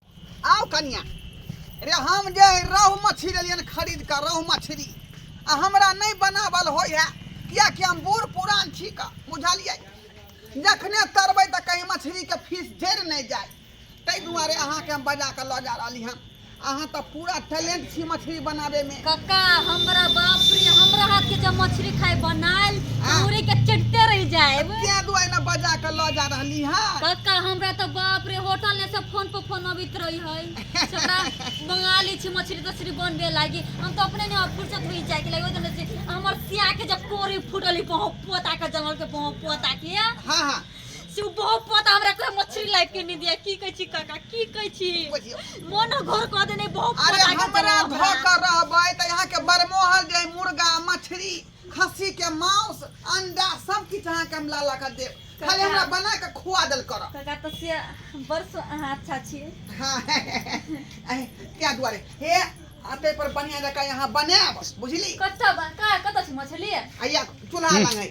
आओ कनिया रे हम जे रोहु मछली लेलियन खरीद कर रोहु मछली आ हमरा नहीं बनावल होय है किया कि हम बूढ़ पुरान छी का बुझलिए जखने तरबै तऽ कहीं मछली के फीस जरि नहीं जाए ताहि दुआरे अहाँके हम बजा कऽ लऽ जा रहली हन अहाँ तऽ पूरा टैलेंट छी मछली बनावे में कक्का हमरा बाप रे हमरा हाथ के जब मछली खाए बनाल हाँ। पूरी के चटते रह जाए क्या दुआ ना बजा के ल जा रहली हां कक्का हमरा तो बाप रे होटल ने सब फोन पर फोन अबित रही है हमरा बंगाली छी मछली तछली बनबे लागी हम तो अपने ने फुर्सत हुई जाए के लगे जने से हमर सिया के जब कोरी फुटली पहुं पोता के जंगल के पहुं पोता के हां हां से ओ बहुत पता हमरा एकरा मछली लाइफ के नहीं दिया की कहै छी काका की कहै छी मन घर कह देने बहुत अरे पता के हमरा देलक धऽ कऽ रहबै तऽ अहाँके बरमोहल जे अइ मुर्गा मछली खस्सी के मांस अंडा सब किछु अहाँके हम ला ला कऽ देब खाली हमरा बना कऽ खुआ देल करब काका तो से बड़ सु- अहाँ अच्छा छी हाँ अहे, तैं दुआरे हे अते पर बढ़िया जकाँ यहाँ बनायब बुझली कतऽ बा का कतऽ छी मछली आइया चूल्हा लग है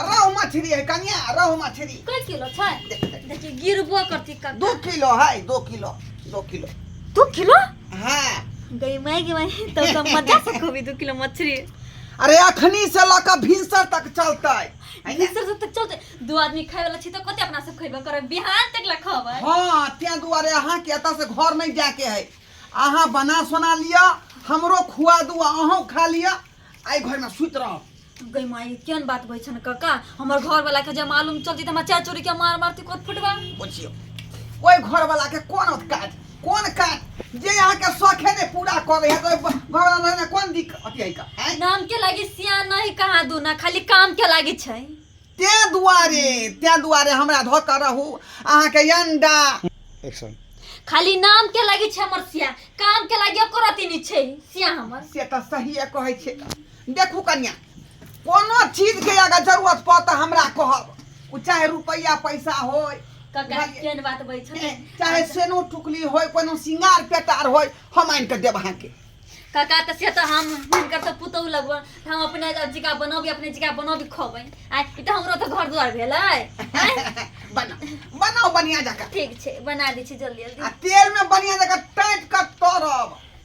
रहु मछरी है कनिया रहु मछरी कै किलो छै देखि गिरबो करती का दू किलो है दू किलो दू किलो दू किलो हाँ गई मैं गई मैं तो सब मजा से खूबी दू किलो मछरी अरे अखनी से लऽ कऽ भिनसर तक चलतै है ने? सर तक चलते दू आदमी खाय वाला छी तो कते अपना सब खइबे करे बिहान तक ला खबै हाँ तें दुआरे अहाँ के एतऽ से घर नहीं जाके है अहाँ बना सोना लिअ हमरो खुआ दू अहूँ खा लिअ आई घर में सुत रहो गई माई केन बात बे छन काका हमर घर वाला के जे मालूम चलती त हमरा चाय चोरी के मार मारती कोत फुटवा बुझियो ओहि घर वाला के कोन काज कोन काज जे यहाँ के शौखे ने पूरा कर रहे तो घर वाला रहने कोन दिक अति है का हैं? नाम के लागी सिया नहीं कहा दू ना खाली काम के लागी छै ते दुआरे ते दुआरे हमरा धो कर रहू अहाँ के अंडा एक्शन खाली नाम के लागी छै हमर सिया काम के लागी एको रति नहीं छै सिया हमर से तो सही कहै छै देखू कन्या कोनो चीज के अगर जरूरत पड़ त हमरा कहब उ चाहे रुपया पैसा होय कका केन बात बई छै चाहे सेनो टुकली होय कोनो सिंगार पेटार होय हम आनि के देब अहाँ के कका त से त हम हिनकर त पुतौ लगब त हम अपने जिका बनबी अपने जिका बनबी खबै आ ई त हमरो त घर द्वार भेलै आँय? बना बनाओ बढ़िया जका ठीक छै बना दै छी जल्दी आ जल्दी तेल में बढ़िया जका टाइट कर तरब